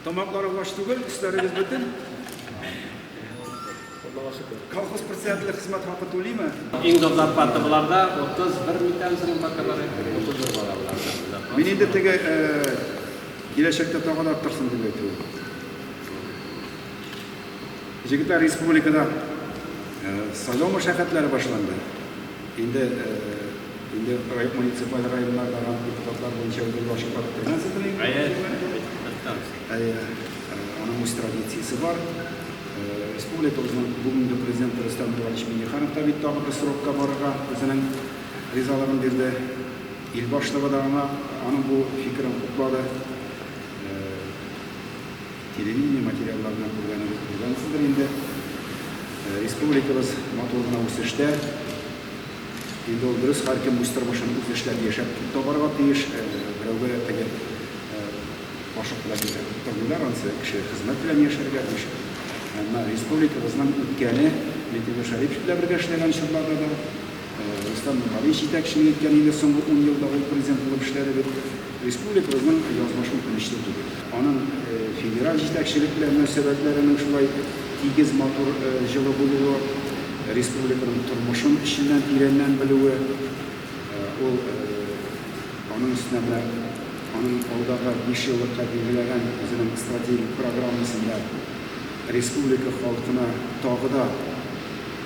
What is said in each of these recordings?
Тамакларым аш түгел, өсләрегез бөтен. Колхоз председателе хезмәт хакы түлиме? Иң зур зарплата буларда 31 микән соң бакалары 31 бала була. Мин инде теге киләчәктә тагын арттырсын дип әйтү. Җегетләр республикада сайлау мәшәкатьләре башланды. Инде Инде муниципаль районнарда гына депутатлар буенча үтеп баручы партия кемнән Әйе, аның үз традициясе бар. Республикабызның бүгенге президенты Рөстәм Булаевич Миңнеханов та бит тагы бер срокка барырга үзенең ризалыгын бирде. Ил башлыгы да аңа аның бу фикерен хуплады. Телевидение материалларына күргәнегез күргәнсездер инде. Республикабыз матур гына үсештә. Инде ул дөрес, һәркем үз тормышын үзе эшләп, яшәп табарга тиеш. Берәүгә дә теге кашык белән күрсәтеп тормыйлар, анысы кеше хезмәт белән яшәргә тиеш. Әмма республикабызның үткәне, Миңтимер Шәрипович белән бергә эшләгән чорларда да, Рөстәм Нургалиевич җитәкчелек иткән, инде соңгы ун елда ул президент булып эшләде бит. Республикабызның язмышы үкенечле түгел. Аның федераль җитәкчелек белән мөнәсәбәтләренең шулай тигез, матур, җылы булуы, республиканың тормышын эченнән тирәннән белүе, ул аның өстенә менә аның алдагы бишьеллыкка билгеләгән үзенең стратегик программасында республика халкына тагы да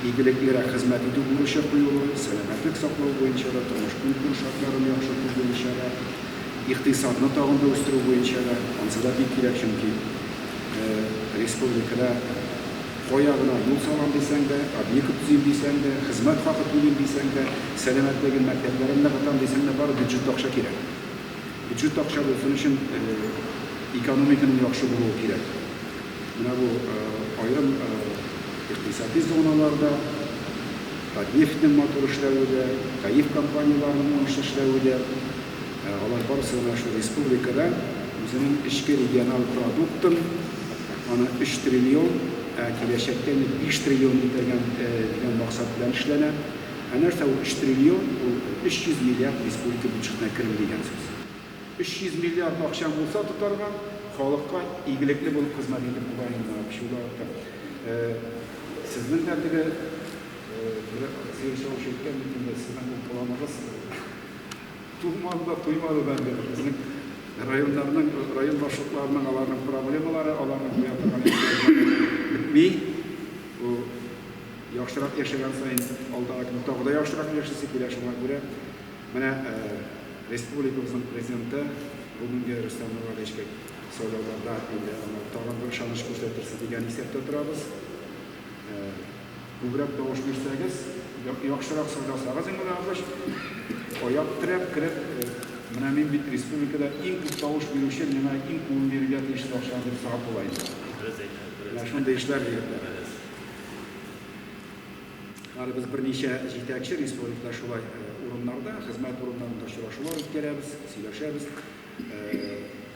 игелеклерәк хезмәт итү бурычы куелу, сәламәтлек саклау буенча да, тормыш-көнкүреш шартларын яхшырту буенча да, икътисадны тагын да үстерү буенча да, ансы да бик кирәк, чөнки республикада кая гына юл салам дисәң дә, объект төзим дисәң дә, хезмәт хакы түлим дисәң дә, сәламәтлеген, мәктәпләрен ныгытам дисәң дә, бары бюджетта акча кирәк. Бюджетта акча булсын өчен экономиканың яхшы булуы кирәк. Менә бу аерым икътисади зоналар да, Татнефтьнең матур эшләве дә, ТАИФ компанияләренең уңышлы эшләве дә, алар барысы да менә шул республикада үзенең эчке региональ продуктын, аны өч триллион, ә киләчәктә инде биш триллион китергән дигән максат белән эшләнә. Ә нәрсә ул өч триллион? Ул 300 миллиард республика бюджетына керү дигән сүз. 300 миллиард акчаң булса тотарга, халыкка игелекле булып хезмәт итеп була инде аны чула артып. Э, сезнең дә теге, э, бер сыер савучы әйткән бит инде, сезнең ул планыгыз тумады да, туймады да инде. Безнең районнарның, район башлыкларының аларның проблемалары, аларның куя торган ихтыяҗлары бетми. Бу Яхшырак яшәгән саен, алдагы көн тагы да яхшырак яшисе килә. Шуңа күрә менә республикабызның президенты бүгенге Рөстәм Миңнегалиевичка сайлауларда инде аңа тагын бер ышаныч күрсәтерсез дигән исәптә торабыз. Күбрәк тавыш бирсәгез, яхшырак сайласагыз Миңнегалиевич, аяк терәп кереп, менә мин бит республикада иң күп тавыш бирүче, миңа иң күбен бирергә тиешсез акчаны дип сорап була инде. Менә шундый эшләр дип. Әле без берничә җитәкче республикада шулай урыннарда, хезмәт урыннарында очрашулар үткәрәбез, сөйләшәбез.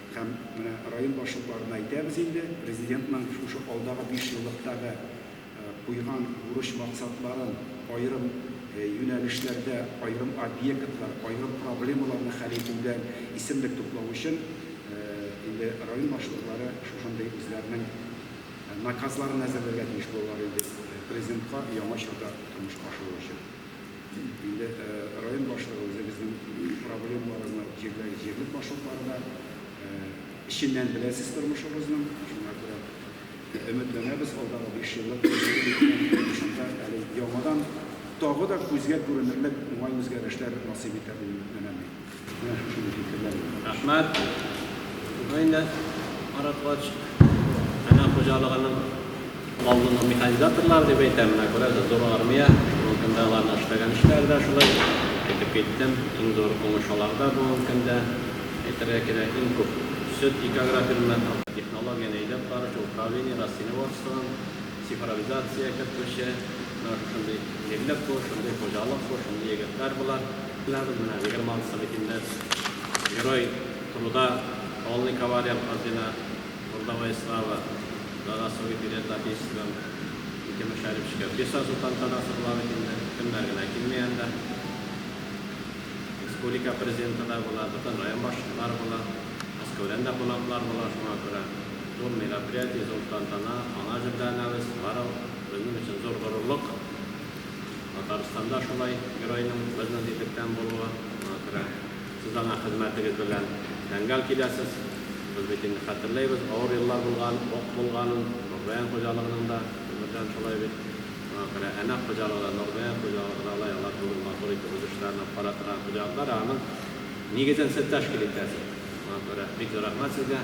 Һәм менә район башлыкларына әйтәбез инде, президентның шушы алдагы 5 еллыктагы куйган бурыч максатларын аерым юнәлешләрдә, аерым объектлар, аерым проблемаларны хәл итүдә исемлек туплау өчен инде район башлыклары шушындый үзләренең наказларын әзерләргә тиеш булалар инде президентка яңа чорда тормышка ашыру өчен. Инде район башлыгы үзе безнең проблемаларны җирләр җирлек башлыкларына эченнән беләсез тормышыбызның, шуңа күрә өметләнәбез алдагы 5 еллык шунда әле яңадан тагы да күзгә күренерлек уңай үзгәрешләр насыйп итәр дип өметләнәм. Менә шушындый фикерләр генә. Рәхмәт. Бу инде Марат Коч. Әнә хуҗалыгының алдынгы механизаторлары дип әйтәм. Менә күрәсез, зур армия. Бүгенге көндә аларның эшләгән эшләре дә шулай. Әйтеп киттем, иң зур уңыш аларда бүгенге көндә. Әйтергә кирәк, иң күп сөт икәгрә бирелә. Технологияне әйдәп баручы управление, Россельхозвтан цифровизация кертүче. Менә шушындый җирлек бу, шундый хуҗалык бу, шундый егетләр болар. Беләдем менә Егерман Салихинда Герой труда, полный кавалер ордена, Трудовая слава, Заслуги перед Отечеством, ике мөшәрриф шикәр. Бишазу тантанасы була бит инде, кемнәр генә килми анда. Республика Президенты да була, бөтен район башлыклары була, Мәскәүдән дә кунаклар була, шуңа күрә зур мероприятие, зур тантана, аңа әзерләнәбез, бары безнең өчен зур горурлык. Татарстанда шулай геройның безнес итектән булуы, шуңа күрә сез аңа хезмәтегез белән тәңгәл киләсез. Без бит инде хәтерләйбез, авыр еллар булган, ук булганын, Нурзаян хуҗалыгының да, гомердән шулай бит. Шуңа күрә Әнәк хуҗалыгы да, Нурзаян хуҗалыгы да алай, алар бүген матур итеп үз эшләрен алып бара торган хуҗалыклар, ә аның нигезен сез тәшкил итәсез. Шуңа күрә бик зур рәхмәт сезгә.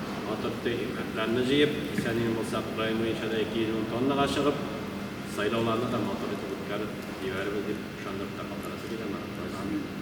Ватыпты икмәкләрне җыеп, исән-имин булсак, район буенча да 210 тоннага чыгып, сайлауларны да матур итеп үткәреп җибәрербез, дип ышандырып та калдырасы килә Марат Гайсинны.